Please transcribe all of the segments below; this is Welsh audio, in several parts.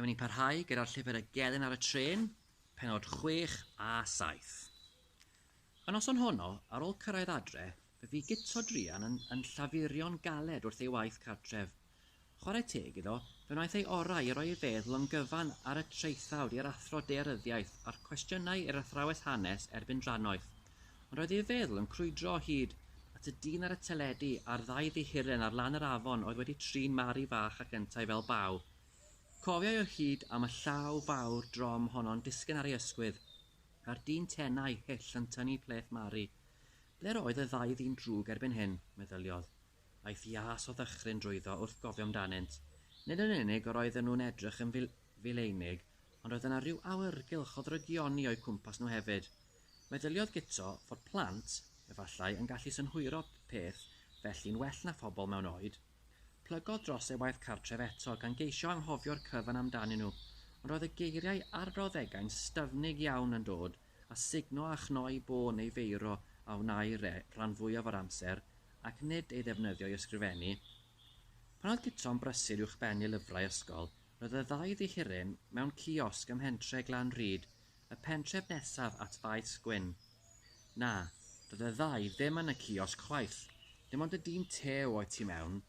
Dyma ni'n parhau gyda'r llyfr y gelyn ar y trên, penod 6 a 7. Y noson honno, ar ôl cyrraedd adre, fe fu Guto druan yn, yn llafurio'n galed wrth ei waith cartref. Chwarae teg iddo, fe wnaeth ei orau i roi ei feddwl yn gyfan ar y traethawd i'r Athro Daearyddiaeth a'r cwestiynau i'r Athrawes Hanes erbyn drannoeth. Roedd ei feddwl yn crwydro o hyd at y dyn ar y teledu a'r ddau ddihuren ar lan yr afon oedd wedi trin Mari fach ac yntau fel baw. Cofiai o hyd am y llaw fawr drom honno'n disgyn ar ei ysgwydd, a'r dyn tenau hyll yn tynnu pleth Mari. Ble'r oedd y ddau ddyn drwg erbyn hyn? meddyliodd. Aeth iâs o ddychryn drwyddo wrth gofio amdanynt. Nid yn unig yr oedden nhw'n edrych yn fileinig, ond roedd yna ryw awyrgylch o ddrygioni o'u cwmpas nhw hefyd. Meddyliodd Guto fod plant, efallai, yn gallu synhwyro peth felly'n well na phobl mewn oed. Plygodd dros ei waith cartref eto, gan geisio anghofio'r cyfan amdanyn nhw, ond roedd y geiriau arbrawddegau'n styfnig iawn yn dod â sugno a chnoi bo neu feiro a wnâi re rhan fwyaf o'r amser, ac nid ei ddefnyddio i ysgrifennu. Pan oedd Guto'n brysur uwchbennu lyfrau ysgol, roedd y ddau ddihiryn mewn ciosg ym mhentre Glan Rhyd Y pentref nesaf at Faes Gwyn. Na, doedd y ddau ddim yn y ciosg chwaith, dim ond y dyn tew oedd tu mewn,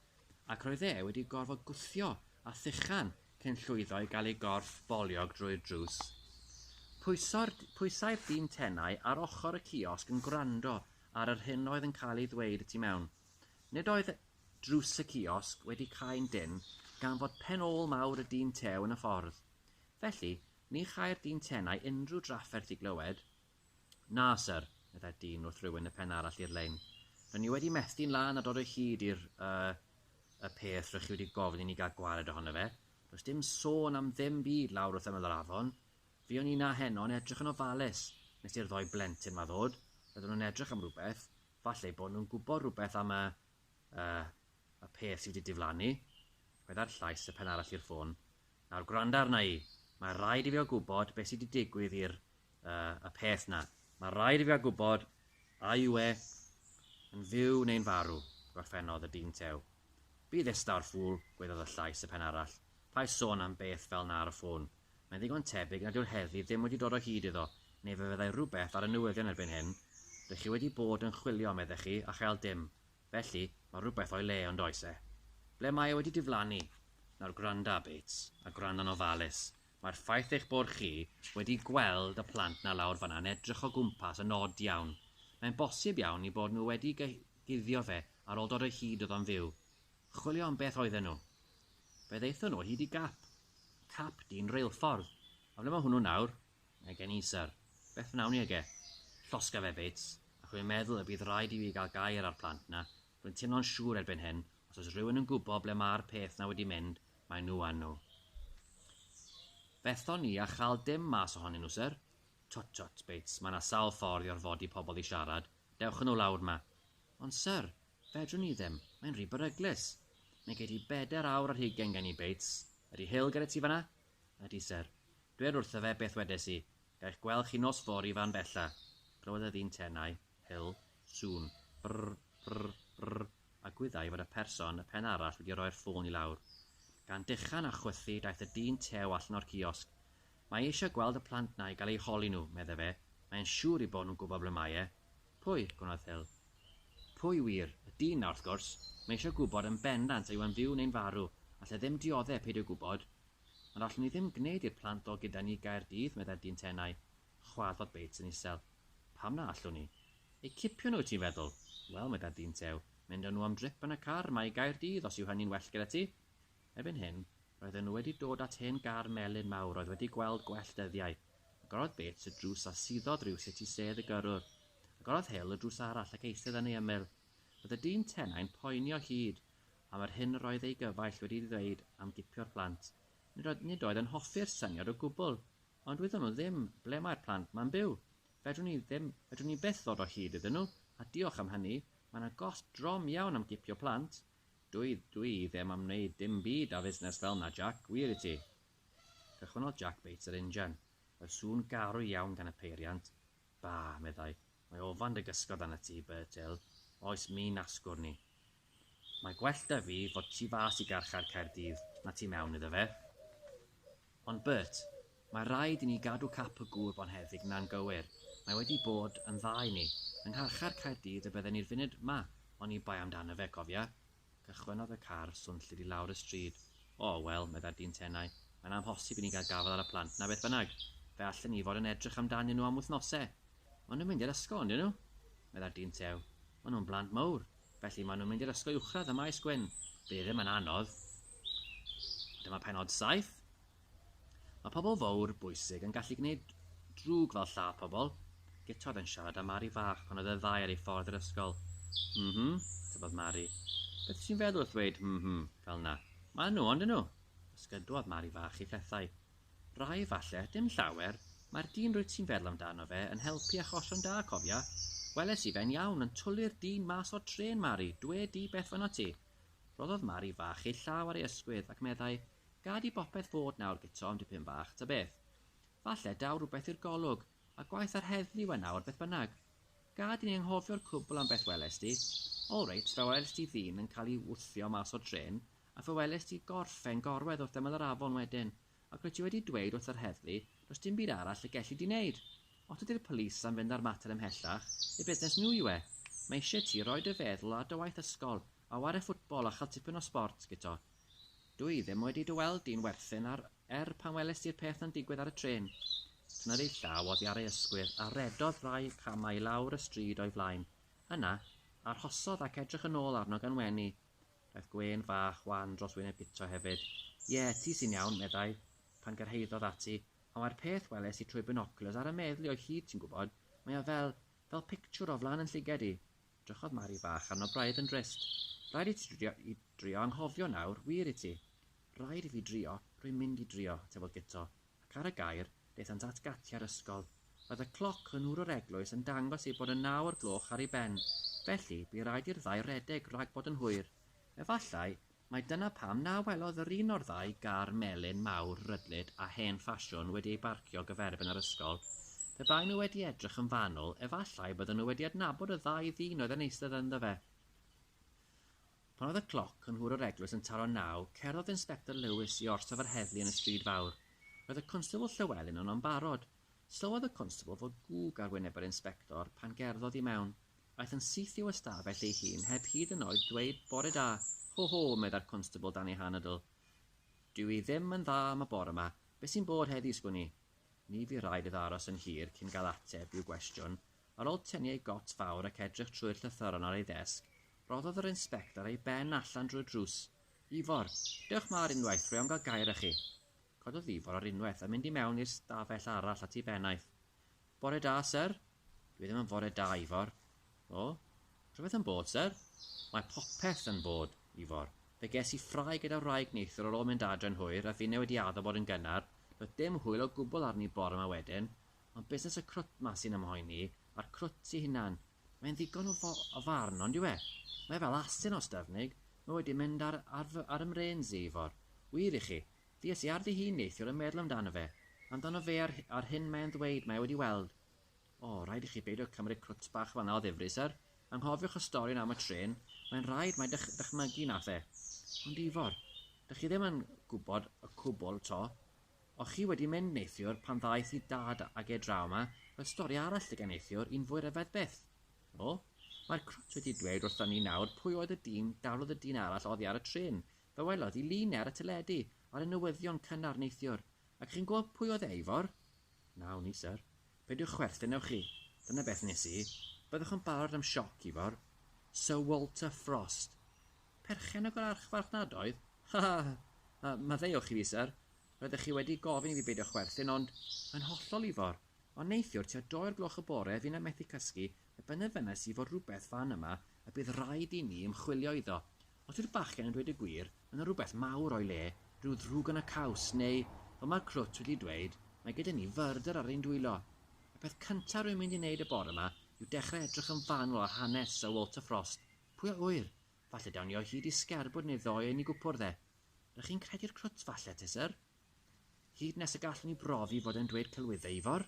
ac roedd e wedi gorfod gwthio a thuchan cyn llwyddo i gael ei gorff boliog drwy'r drws. Pwyso'r, pwysai'r dyn tenau ar ochr y ciosg yn gwrando ar yr hyn oedd yn cael ei ddweud y tu mewn. Nid oedd drws y ciosg wedi cau'n dynn gan fod pen ôl mawr y dyn tew yn y ffordd. Felly, Ni chai'r dyn tenau unrhyw drafferth i glywed. Na, syr, meddai'r dyn wrth rywun y pen arall i'r lein. R'yn ni wedi methu'n lân a dod o hyd i'r, er, y peth rych chi wedi gofyn i ni gael gwared ohono fe. Does dim sôn am ddim byd lawr wrth ymyl yr afon. Fuon ni 'na heno yn edrych yn ofalus nes i'r ddou blentyn 'ma ddod. Roedden nhw'n edrych am rywbeth. Falle eu bod nhw'n gwybod rhywbeth am y, er, y peth sy wedi diflannu. Chwedai'r llais y pen arall i'r ffôn. Nawr gwranda arna i. Mae rhaid i fi a gwybod beth sydd wedi digwydd i'r uh, y peth na. Mae rhaid i fi a gwybod a yw e yn fyw neu'n farw, gorffennodd y dyn tew. Bydd estawr ffŵl, gwedodd y llais y pen arall. Paid sôn am beth fel na ar y ffôn. Mae'n ddigon tebyg nad yw'r heddlu ddim wedi dod o hyd iddo, neu fe fyddai rhywbeth ar y newyddion erbyn hyn. Rydych chi wedi bod yn chwilio, meddech chi, a chael dim. Felly, mae rhywbeth o'i le, on'd oes e? Ble mae e wedi diflannu? Nawr gwranda, Bates, a gwranda'n ofalus, mae'r ffaith eich bod chi wedi gweld y plant 'na lawr fan'na yn edrych o gwmpas yn od iawn. Mae'n bosib iawn 'u bod nhw wedi guddio fe ar ôl dod o hyd iddo'n fyw. Chwilio am beth oedden nhw. Fe ddaethon nhw o hyd i gap. Cap dyn reilffordd. A ble mae hwnnw nawr? Mae gen i syr. Beth wnawn ni ag e? Llosga fe, Bates. Ac rwy'n meddwl y bydd rhaid i fi gael gair â'r plant 'na. Rwy'n teimlo'n siŵr erbyn hyn, os oes rhywun yn gwybod ble mae'r peth 'na wedi mynd, mae nhw a nhw. Fethon ni a chael dim mas ohonyn nhw, syr. Twt, twt, Bates, mae 'na sawl ffordd i orfodi pobl i siarad. Dewch â nhw lawr 'ma. Ond, syr, fedrwn ni ddim. Mae'n rhy beryglus. Mae gei di bedair awr ar hugain gen i, Bates. Ydy Hill gyda ti fan'na? Ydy, syr. Dwed wrtho fe beth wedes i. Gaech gwel' chi nos fory fan bella. Clywodd y ddyn tenau, hyl, sŵn, brr, brr, brr, a gwyddai fod y person y pen arall wedi roi'r ffôn i lawr. Gan dechan a chwythu daeth y dyn tew allan o'r ciosg. Mae e eisiau gweld y plant 'na i gael eu holi nhw, medde fe, mae e'n siŵr 'i bod nhw'n gwybod ble mae e. Pwy? gwnnodd Hyl. Pwy wir? Y dyn 'na, wrth gwrs. Mae e eisiau gwybod yn bendant a yw e'n fyw neu'n farw. All e ddim diodde' peidio gwybod. Ond allwn ni ddim gwneud i'r plant ddod gyda ni i Gaerdydd, meddai'r dyn tenau, chwarddodd Bates yn isel. Pam na allwn ni? Eu cipio nhw, wyt ti'n feddwl? Wel, meddai'r dyn tew, mynd â nhw am drip yn y car 'ma i Gaerdydd, os yw hynny'n well gyda ti. Erbyn hyn, roedden nhw wedi dod at hen gar melyn mawr oedd wedi gweld gwell dyddiau. Agorodd Bates y drws a suddodd rywsut i sedd y gyrrwr. Agorodd Hill y drws arall ac eistedd yn ei ymyl. Roedd y dyn tenau'n poeni o hyd. am yr hyn roedd ei gyfaill wedi ddweud am gipio'r plant. Nid oedd, nid oedd yn hoffi'r syniad o gwbl. Ond wyddon nhw ddim ble mae'r plant ma'n byw. Fedrwn ni ddim, fedrwn ni byth ddod o hyd iddyn nhw, a diolch am hynny, mae yna gost drom iawn am gipio plant. Dwi, dwi ddim am wneud dim byd â fusnes fel 'na, Jac, wir i ti. Cychwynnodd Jac Bates yr injan. Roedd sŵn garw iawn gan y peiriant, Ba, meddai, mae ofan dy gysgod arnat ti, Birtell, oes mi'n asgwrn ni. Mae gwell 'da fi fod tu fas i garchar Caerdydd na tu mewn iddo fe. Ond, Bert, mae rhaid i ni gadw cap y gŵr bonheddig 'na'n gywir, mae wedi bod yn dda i ni. Yng ngharchar Caerdydd y bydden ni'r funud 'ma oni bai amdano fe, cofia. Cychwynnodd y car swnllyd i lawr y stryd. O, wel, meddai'r dyn tenau, mae'n amhosib i ni gael gafael ar y plant 'na beth bynnag. Fe allen ni fod yn edrych amdanyn nhw am wythnose. Maen nhw'n mynd i'r ysgol, yndyn nhw? meddai'r dyn tew. Maen nhw'n blant mawr. Felly, maen nhw'n mynd i'r ysgol uwchradd ym Maes Gwyn. Bydd e ddim yn anodd. Ond dyma pennod saith. Mae pobl fawr bwysig yn gallu gwneud drwg fel lladd pobl. Git oedd yn siarad â Mari fach pan oedd y ddau ar ei ffordd i'r ysgol. M-hm, tybiodd Mari. Beth wyt ti'n feddwl wrth ddweud m-hm fel 'na? Maen nhw, ond 'yn nhw? Ysgydwodd Mari fach ei phethau. Rai falle, dim llawer. Mae'r dyn rwyt ti'n feddwl amdano fe yn helpu achosion da, cofia. Weles i fe'n iawn yn twli'r dyn mas o'r trên, Mari, dwe di beth fynot ti. Rhoddodd Mari fach ei llaw ar ei ysgwydd ac meddai, Gad i bopeth fod nawr Guto am dipyn bach, ta beth. Falle daw rhywbeth i'r golwg, a gwaeth ar heddlu yw e nawr beth bynnag. Gad i ni anghofio'r cwbl am beth welest ti. All reit, fe welest ti ddyn yn cael ei wthio mas o'r trên, a fe welest ti gorffen gorwedd wrth ymyl yr afon wedyn, ac ro't ti wedi dweud wrth yr heddlu, does dim byd arall y gelli di wneud. Os dydi'r police am fynd â'r mater ymhellach, eu busnes nhw yw e. Mae isie ti roi dy feddwl ar dy waith ysgol, a ware ffwtbol a chael tipyn o sbort, Guto. Dw i ddim wedi dy weld di'n werthin ar er pan welest ti'r peth yn digwydd ar y trên. Tynnodd ei llaw oddi ar ei ysgwydd a rhedodd rai camau i lawr y stryd o'i flaen. Yna, arhosodd ac edrych yn ôl arno gan wenu. Daeth gwên fach wan dros wyneb Guto hefyd. Ie, ti sy'n iawn, meddai, pan gyrhaeddodd ati, ond mae'r peth weles i trwy binoculars ar 'y meddli o hyd ti'n gwybod, mae o fel, fel pictiwr o flan 'yn llygaid i. Drychodd Mari bach arno braidd yn drist. Rhaid i ti drio i drio anghofio nawr, wir i ti. Rhaid i fi drio, rwy'n mynd i drio, tybiodd Guto, ac ar y gair, daethant at gatiau'r ysgol. Roedd y cloc yn ŵr yr eglwys yn dangos ei bod yn naw o'r gloch ar ei ben, felly, bu raid i'r ddau redeg rhag bod yn hwyr. Efallai, Mai dyna pam na welodd yr un o'r ddau gar melyn mawr rydlyd a hen ffasiwn wedi eu barcio gyferbyn â'r ysgol. Pe baen nhw wedi edrych yn fanwl, efallai bydden nhw wedi adnabod y ddau ddyn oedd yn eistedd ynddo fe. Pan oedd y cloc yn nhwr yr eglwys yn taro naw, cerddodd Inspector Lewis i orsaf yr heddlu yn y stryd fawr. Roedd y Constable Llewelyn yno'n barod. Sylwodd y Constable fod gwg ar wyneb yr Inspector pan gerddodd i mewn. Aeth yn syth i'w ystafell ei hun heb hyd yn oed dweud 'Bore da! Ho, ho! meddai'r constabl dan ei hanadl. 'Dw i ddim yn dda am y bore 'ma. Be' sy'n bod heddiw, sgwn i? Ni fu raid iddo aros yn hir cyn gael ateb i'w gwestiwn. Ar ôl tynnu ei got fawr ac edrych trwy'r llythyron ar ei ddesg, rhoddodd yr inspector ei ben allan drwy'r drws. 'Ifor! Dewch 'ma ar unwaith, rwy am gael gair â chi. Cododd Ifor ar unwaith a mynd i mewn i'r stafell arall at ei bennaeth. Bore da, syr. Dwi ddim yn fore da, Ifor. O? Rhywbeth yn bod, syr? Mae popeth yn bod, Ifor. Fe ges i ffrae gyda wraig neithiwr ar ôl mynd adre yn hwyr a finne wedi addo bod yn gynnar, doedd dim hwyl o gwbl arni bore 'ma wedyn. Ond busnes y crwt 'ma sy'n 'y mhoeni i, a'r crwt ei hunan. Mae'n ddigon o farn, on'd yw e? Mae e fel asyn o Ystyfnig. Mae wedi mynd ar ar fy ar 'y mrêns i, Ifor. Wir i chi, Ddies i ar ddi hun neithiwr yn meddwl amdano fe, amdano fe a'r a'r hyn mae e'n ddweud mae e wedi weld. O, rhaid i chi beidio cymryd crwt bach fan'na o ddifri, syr. Anghofiwch y stori yna am y trên, mae'n rhaid mai dych- dychmygu wnaeth e. Ond Ifor, dych chi ddim yn gwybod y cwbl 'to. O'ch chi wedi mynd neithiwr pan ddaeth i Dad ag e draw 'ma, roedd stori arall 'da gen neithiwr, un fwy ryfedd byth. O, mae'r crwt wedi dweud wrtho ni nawr pwy oedd y dyn daflodd y dyn arall oddi ar y trên, Fe welodd i lun ar y teledu ar y newyddion cynnar neithiwr, ac chi'n gwybod pwy oedd e, Ifor? Na, wn i, syr. Peidiwch chwerthin, ewch chi. Dyna beth wnes i. Byddwch yn barod am sioc, Ifor. Syr Walter Frost! Perchennog yr archfarchnadoedd? Ha! ha! ha! Yy, maddeuwch i fi, syr. Roeddech chi wedi gofyn i fi beidio chwerthin, ond... Yn hollol, Ifor. Ond neithiwr tua dou o'r gloch y bore finnau methu cysgu, fe benderfynais i fod rhywbeth fan yma y bydd raid i ni ymchwilio iddo. Os yw'r bachgen yn dweud y gwir, mae yna rhywbeth mawr o'i le, rhyw ddrwg yn y caws, neu, fel mae'r crwt wedi dweud, mae gyda ni fyrdr ar ein dwylo. Y peth cyntaf rwy'n mynd i wneud y bore yma yw dechrau edrych yn fanwl ar hanes Syr Walter Frost. Pwy a ŵyr? Falle dawn ni o hyd i sgerbwd neu ddoe yn ei gwpwrdd e. R'ych chi'n credu'r crwt falle, te, syr? Hyd nes y gallwn ni brofi fod e'n dweud celwyddau, Ifor?